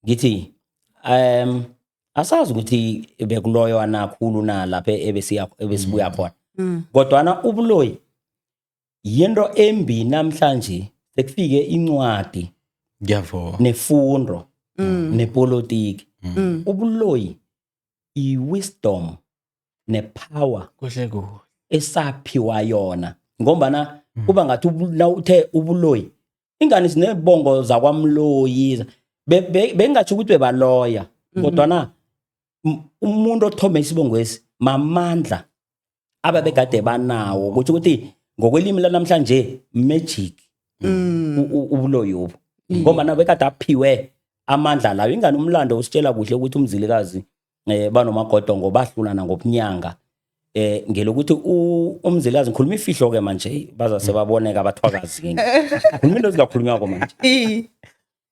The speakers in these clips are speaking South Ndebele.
Ngithi asazi ukuthi bekuloyo anakhulu na lapha ebesiya ebesibuya khona. Mm. Kodwana ubuloyi yinto embi namhlanje sekufike incwadi Ngiyavuma. nefundo Mm. nepolitiki. Mm. Ubuloyi i-wisdom ne-power Kuhle kuhle. esaphiwa yona ngombana kuba ngathi ubu- nawuthe ubuloyi ingani sinebongo zakwamloyi bengingatsho ukuthi bebaloya mhm. kodwana umuntu othome isibongwesi mamandla ababegade banawo kutho ukuthi ngokwelimi lanamhlanje magic mm. ubuloyobo mm. ngombana bekade aphiwe amandla lawo ingani umlando usitshela kuhle ukuthi umzilikazi eh banomagodongo bahlulana ngobunyanga eh ngelokuthi u- umzilikazi ngikhuluma ifihlo ke manje bazase baboneka abathwakazi kimi khuluma into ezingakhulunywako manje I-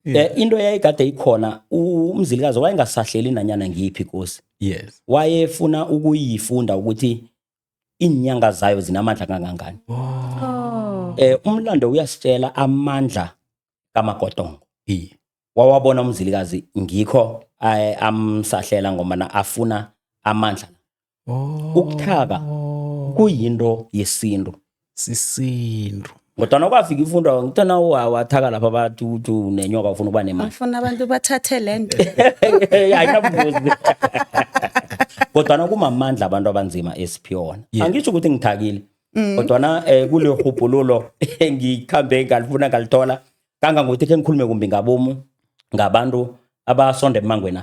eh into yayigade ikhona u- umzilikazi wayengasahleli nanyana ngiyiphi kosi yes wayefuna ukuyifunda ukuthi iinyanga zayo zinamandla kangangani Oh. eh umlando uyasitshela amandla kamagodongo iye wawabona umzilikazi ngikho eh, amsahlela ngombana afuna amandla oh. ukuthaba kuyinto yesintu sisintu kodwana kwafika ifundo ngithona wathaka lapha bathi uthi unenyoka ufuna ukuba nemali afuna abantu bathathe le nto ayinabuzi kodwana kumamandla abantu abanzima esiphiyona angitsho ukuthi ngithakile mm. kodwana um eh, kule rhubhululo engikhambe ngalifuna ngalithola kangangokuthi khe ngikhulume kumbi ngabomu ngabantu abasonda emangwena